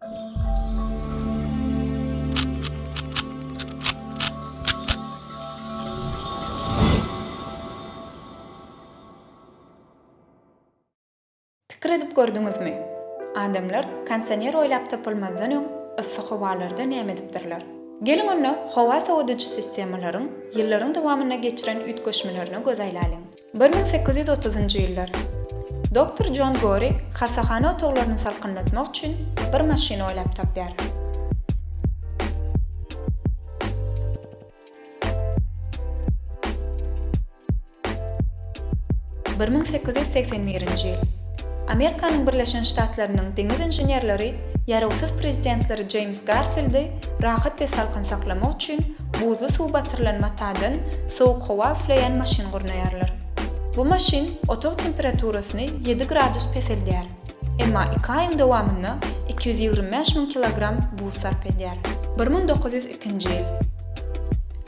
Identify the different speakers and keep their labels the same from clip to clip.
Speaker 1: Pikir edip gördüňizmi? Adamlar konsioner oýlap tapylmazdan öň yssy howalarda näme edipdirler? Geliň onda howa sowadyjy sistemalaryň ýyllaryň dowamynda geçiren üýtgeşmelerine göz aýlalyň. Bir müň sekiz ýüz otuzynjy ýyllar. Doktor Jon Gori hassahana otaglaryny salkynlatmak üçin bir maşyn oýlap tapýar. Bir müň sekiz ýüz segsen birinji ýyl. Amerikanyň Birleşen Ştatlarynyň deňiz inženerleri ýarawsyz prezidentleri Jeýms Garfildi rahat we salkyn saklamak üçin Buzly suw batyrylan matadan sowuk howa üfleýän maşyn gurnaýarlar. Bu maşyn otag temperaturasyny ýedi gradus peseldýär, emma iki aýyň dowamynda iki ýüz ýigrimi bäş müň kilogram buz sarp edýär. Bir müň dokuz ýüz ikinji ýyl.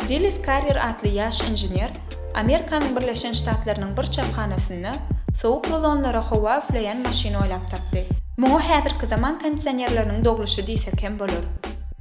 Speaker 1: Willis Karrier atly ýaş inžener Amerikanyň Birleşen Ştatlarynyň bir çaphanasynda sowuk rulonlara howa üfleýän maşyn oýlap tapdy. Muňa häzirki zaman kondisionerleriniň dogluşy diýsek hem bolar.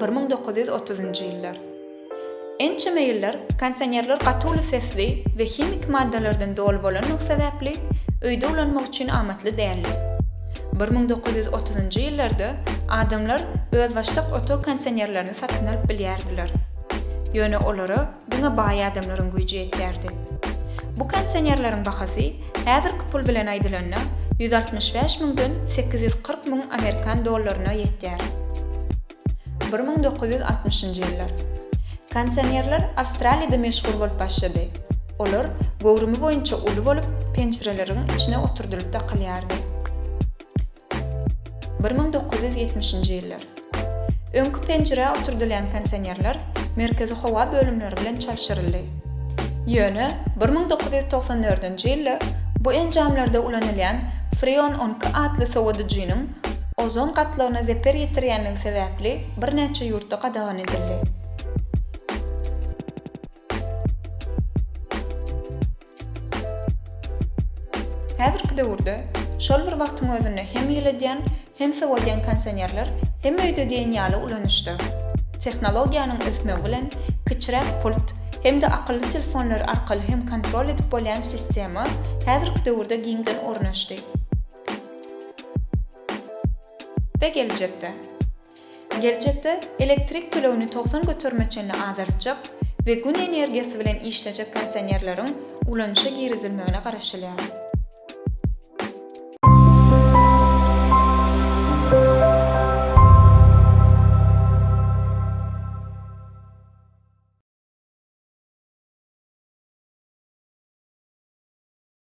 Speaker 1: Bir müň dokuz ýüz otuzynjy ýyllar. Ençeme ýyllar konsionerler gaty uly sesli we himiki maddalardan doly bolanlygy sebäpli öýde ulanmak üçin amatly däldi. Bir müň dokuz ýüz otuzynjy ýyllarda adamlar özbaşdak otag konsionerlerini satyn alyp bilýärdiler. Ýöne olara Diňe baý adamlaryň güýji ýetýärdi. Bu konsionerleriň bahasy, häzirki pul bilen aýdylanda, ýüz altmyş bäş müňden sekiz ýüz kyrk müň amerikan dollaryna ýetýär. Bir müň dokuz ýüz altmyşynjy ýyllar. Konsionerler Awstraliýada meşhur bolup başlady. Olar göwrümi boýunça uly bolup, penjireleriň içine oturdylyp dakylýardy. Bir müň dokuz ýüz ýetmişinji ýyllar. Öňki penjirä oturdylýan konsionerler merkezi howa bölümleri bilen çalşyryldy. Ýöne bir müň dokuz ýüz togsan dördünji ýylda bu enjamlarda ulanylýan Freon on iki atly sowadyjynyň ozon gatlagyna zeper ýetirýändigi sebäpli birnäçe ýurtda gadagan edildi. Häzirki döwürde şol bir wagtyň özünde hem ýyladýan, hem sowadýan konsionerler hem öýde diýen ýaly ulanyşda. Tehnologiýanyň ösmegi bilen kiçiräk pult hem-de akylly telefonlar arkaly hem kontrol edip bolýan sistema häzirki döwürde giňden ornaşdy we geljekde. Geljekde elektrik tölegini togsan göterime çenli azaltjak we Gün energiýasy bilen işlejek kondisionerleriň ulanyşa girizilmegine garaşylýar.